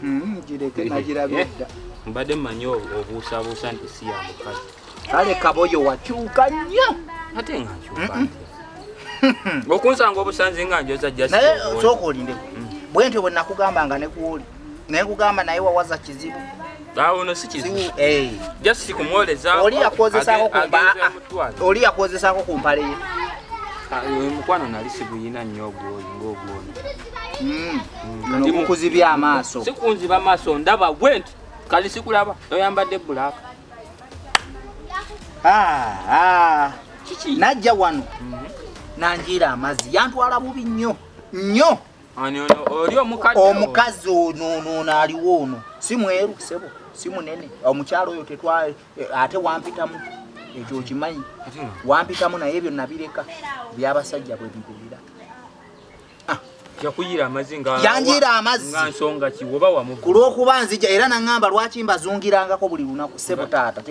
Hmm, gireke nagirabye dda mbadde mmanyi obuusabuusa nti si ya mukazi kale kaboyo wakyuka nnyo ate nga nkyuka okunsanga obusanzi nga njoza naye sooka olindeko mm. bwe ntyo bwe nakugamba nga nekuwoli naye kugamba naye wawaza kizibu awono si kizibu eh. just kumwolezaoli yakwozesako ku mpale ye ah, mukwano nali siguyina nnyo ogwoyi ngaogwono Mm. Ndi mukuzibya amaaso. Sikunziba amaaso ndaba gwe nti kali sikulaba oyambadde bbulaaka. Ah, ah. Najja wano mhm. nanjiira amazzi yantwala bubi nnyo nnyo. Omukazi ono ono ono aliwo ono si mweru sebo si munene omukyalo oyo tetwa eh, ate wampitamu ekyo okimanyi wampitamu naye ebyo nabireka byabasajja bwe bibulira ah. yakuyiira amazzi nga yanjiira amazzi nga nsonga ki oba wamu ku lw'okuba nzija era nangamba lwaki mbazungirangako buli lunaku sebo taata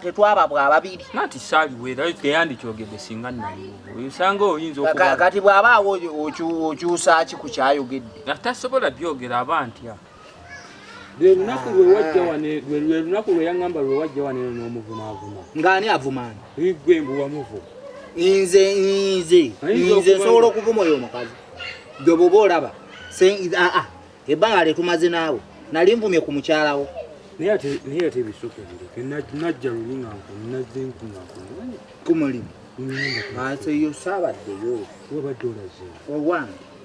tetwaba bwa babiri nati saali weera teyandikyogedde singa naliwo osanga oyinza okukati bw'aba awo okyusa ki ku kyayogedde atasobola byogera aba ntya lwe lunaku lwe wajja wano lwe lunaku lwe yaŋŋamba lwe wajja wano eno n'omuvumaavuma ng'ani avumaani igwe mbu wamuvuma nze nze nze nsobola okuvuma oyo omukazi gwe bwoba olaba aa ebbanga lyetumaze naawe nali nvumye ku mukyalawo naye ate ebisuka bireke najja luli nga nazze nkunakumanya ku mulimu nze yo saabaddeyo wabadde olaze owange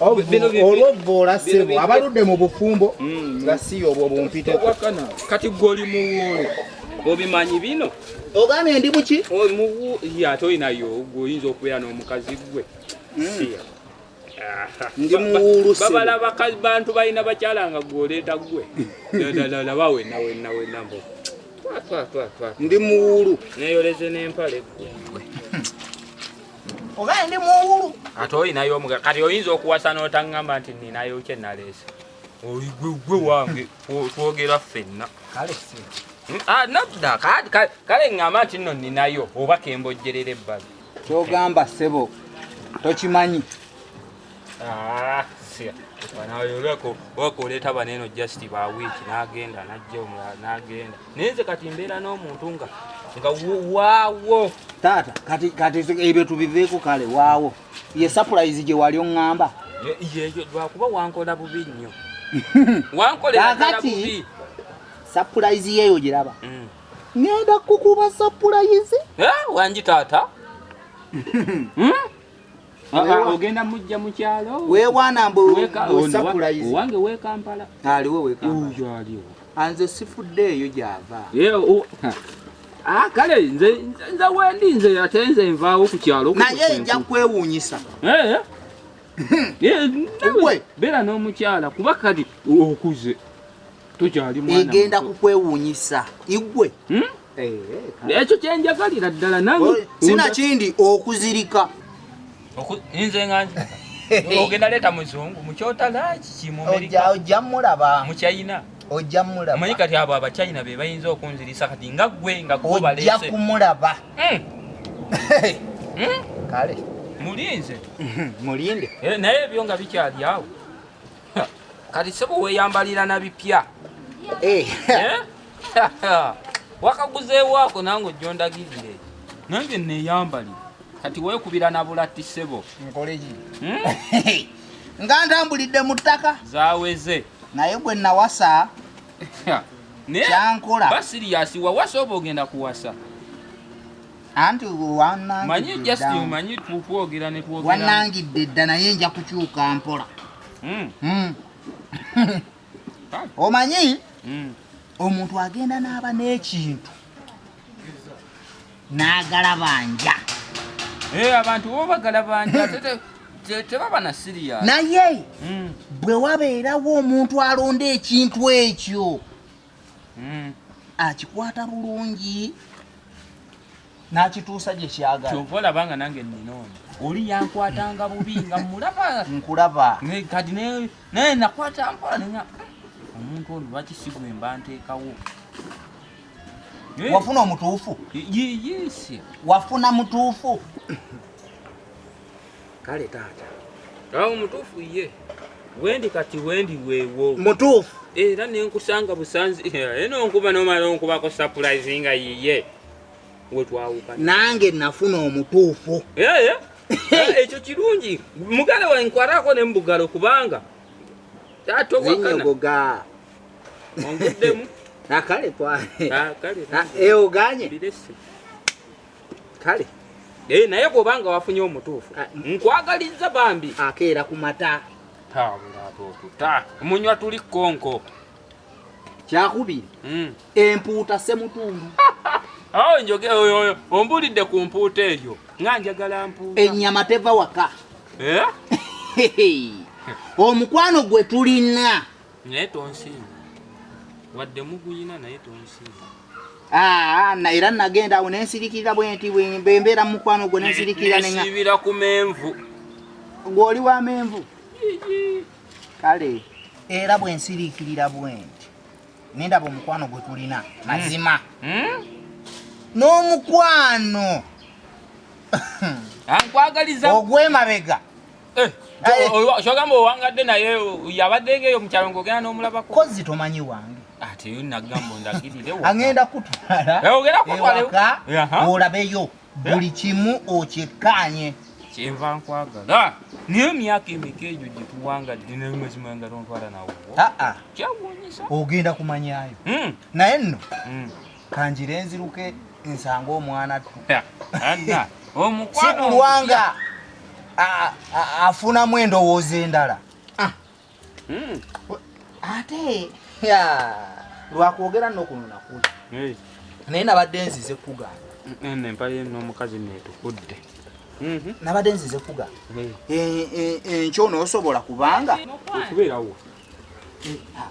olwovvoola ssebo abaludde mu bufumbo mm. nga si obwo bumpiteko kati gwoli muwuulu obimanyi bino ogambye ndi muki ate olinayo gweoyinza okubeera n'omukazi gwe mm. ndi muwuulu babala bantu balina bakyala nga gweoleeta gwe laba wenna wenna wenna mbo ndi muwuulu neyoleze n'empale gwe oba ndi muwulu ate olinayo omuga kati oyinza okuwasa n'otaŋŋamba nti ninayo kye naleese oigwegwe wange twogera ffenna kale hmm? ah, nadda kale ŋŋamba nti nno ninayo oba kembojjerera ebbali kyogamba ssebo tokimanyi Ah, wakoleeta baneeno just ba wiiki n'agenda n'ajja omulala n'agenda naye nze kati mbeera n'omuntu nga nga waawo taata kati kati ebyo tubiveeko kale waawo ye surprise gye wali oŋŋamba yeyo lwakuba wankola bubi nnyo wankolakati surprise yeeyo giraba mm. ngenda kukuba surprise eh, wangi taata hmm? ogenda mujja mukyalo wewana mbuowange wekampala aliwo wekampalaaliwo anze sifudde eyo gyava ah, kale nze wendi nze ate nze nvaawo ku kyalo naye nja kwewuunyisa eh, eh. Eh, beera n'omukyala kuba kati okuze tokyali mwana egenda kukwewuunyisa igwe hmm? Eh, eh, ekyo kyenjagalira ddala nange sinakindi okuzirika nze nganje ogenda leeta muzungu mukyotala kikimuojja mulaba mukyayina ojja mulaba omanyi kati abo abakyayina be bayinza okunzirisa kati nga gwe nga kubalese ojja kumulaba hmm. Hmm? kale mulinze mulinde eh, naye ebyo nga bikyali awo kati sebo weyambalira na bipya eh. eh? wakaguzeewo ako nange ojondagirire nange neyambali kati wekubira na bulatti sebo nkoleki hmm? nga ntambulidde mu ttaka zaweze naye gwe nawasa kyankola basiriyasi wawasa oba ogenda kuwasa anti wanangidde dda naye nja kukyuka mpola hmm. Hmm. omanyi hmm. omuntu agenda n'aba n'ekintu n'agalabanja eh, abantu bo bagalabanja tebaba na siriya naye bwe wabeerawo omuntu alonda ekintu ekyo mm. akikwata bulungi n'akituusa gye kyagala kyova olaba nga nange nnina ono oli yankwatanga bubi nga mulaba nkulaba kati naye nakwata mpola nenya omuntu ono lwaki sigwemba nteekawo wafuna omutuufu wafuna mutuufu kale taata awo mutuufu ye wendi kati wendi wewo mutuufu era nenkusanga busanzi eno nkuba nomala onkubako surprise nga yiye wetwawuka nange nafuna omutuufu ekyo kirungi mugala wa nkwarako ne mubugalo kubanga taata owakana onguddemu nakale twale oganye kale eh, naye bwobanga wafunye omutuufu ah, nkwagaliza bambi akeera ku mata tabulatotuta munywa tuli konko kyakubiri hmm. empuuta semutundu awo njoge oyo ombulidde ku mpuuta eyo nga njagala mpuuta ennyama teva waka eh? omukwano gwe tulina naye tonsiima wadde muguyina naye tonsiima ah, ah, era nagenda awo nensirikirira bwenti bwembeera mumukwano gwo nensirikirira nensibira ku menvu gwoli wa menvu kale era bwensirikirira bwenti nendaba omukwano gwe tulina hmm. mazima hmm? n'omukwano ogwemabega Eh, kyogamba owangadde naye yabadde ngeeyo mukyalo ng'ogenda n'omulabako kozi tomanyi wange ate ah, nagamba ondagirire agenda kutwala ewaka eh, olabeyo eh? buli kimu okikkaanye kyenva nkwagala naye emyaka emeka egyo gyetuwanga ddinemazima nga tontwala nawo ah, ah. kyawunyisa ogenda kumanyayo hmm. naye nno hmm. kanjire nziruke nsanga omwana tu anna omukwano kulwanga afunamu endowooza endala ah. hmm. ate lwakwogera nokuno nakuli naye nabadde nzize kugamba empaye nomukazi netukudde mhm. nabadde nzize kugamba e, e, enkyo noosobola kubanga okubeerawo eh, ah,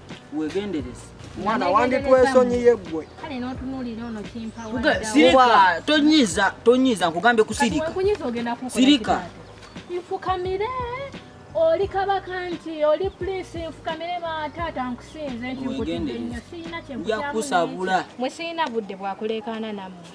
wegendereze mwana wanditwesonyiye gwe kale notunulira ono kimpawa sirika tonyiza tonyiza nkugambye kusirika sirika nfukamire oli kabaka nti oli prince nfukamire bataata nkusinze nti nkutidde nnyo sirina kyenkuyakusabula mwe sirina budde bwakuleekaana nammwe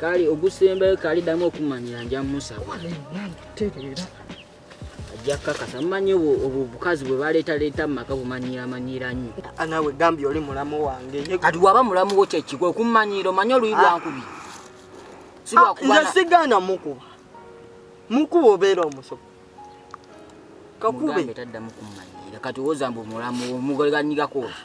kale ogusembayo kale damu okumanyira nja musaba tereera ajja kakasa mumanyi obwo bukazi bwe baleetaleeta mu maka bumanyiiramanyira nnyo ah, nawe gambye oli mulamu wange kati waba mulamu wo kyekikwe okummanyiira omanye oluyi lwankubi ah, ah, nze sigaana mukuba mukuba obeera omusobo kakube taddamu kummanyiira kati owooza mbu mulamu omugoleganyigakooza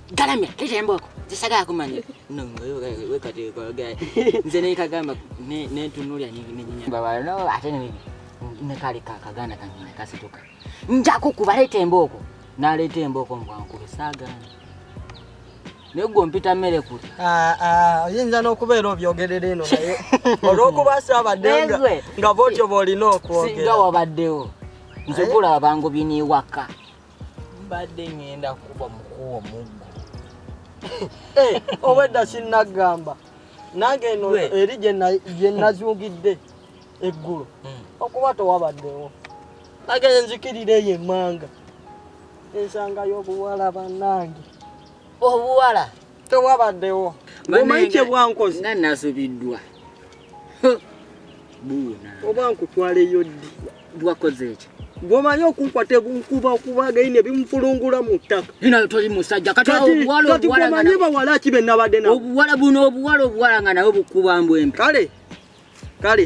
galamira leeta embooko zisagala kumanya nongayoweekateekogera nze nekagamba nentunulya nenyinyababalno ate nekali kakaganda kange nekasituka njakukuba leeta embooko naleeta embooko mbwankube saagana naye gwe ompita mmere kuli ah, ah, oyinza n'okubeera obyogerera eno naye olw'okuba saabadde nga bwotyo bw'olina okwogera nga wabaddewo nze gula abangu biniwaka mbadde ŋŋenda kuba mukuwa omuggo eh, obwedda sinnagamba nange eno eri gye nazungidde eggulo hmm. okuba tewabaddewo nange nzikirira eyo emmanga ensangayo obuwala bannange obuwala tewabaddewo omanyi kyebwankozi nga nasubiddwa buuna oba nkutwaleyo ddi lwakoze ekyo gwomanyi okunkwata ebunkuba okuba againe bimufulungula mu ttaka ina toli musajja kati gwomanyi bawala ki benabadde na obuwala buno obuwala obuwala nga nawe bukuba mbwembi kale kale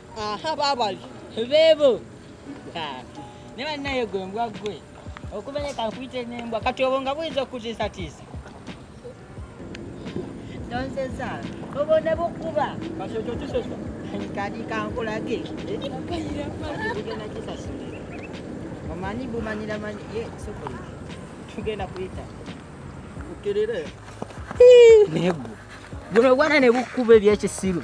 aha babali bebo ne bannaye gwe mbwa gwe okumenye kankuyite nembwa kati obwo nga buyinza okukutiisatiisa nonseza obwo ne bukuba kati ekyo kisesa kati kankulage tugenda kisasulira omanyi bumanyira manyi ye sokoli tugenda kuyita ukirire negwo guno gwana ne bukuba ebyekisiru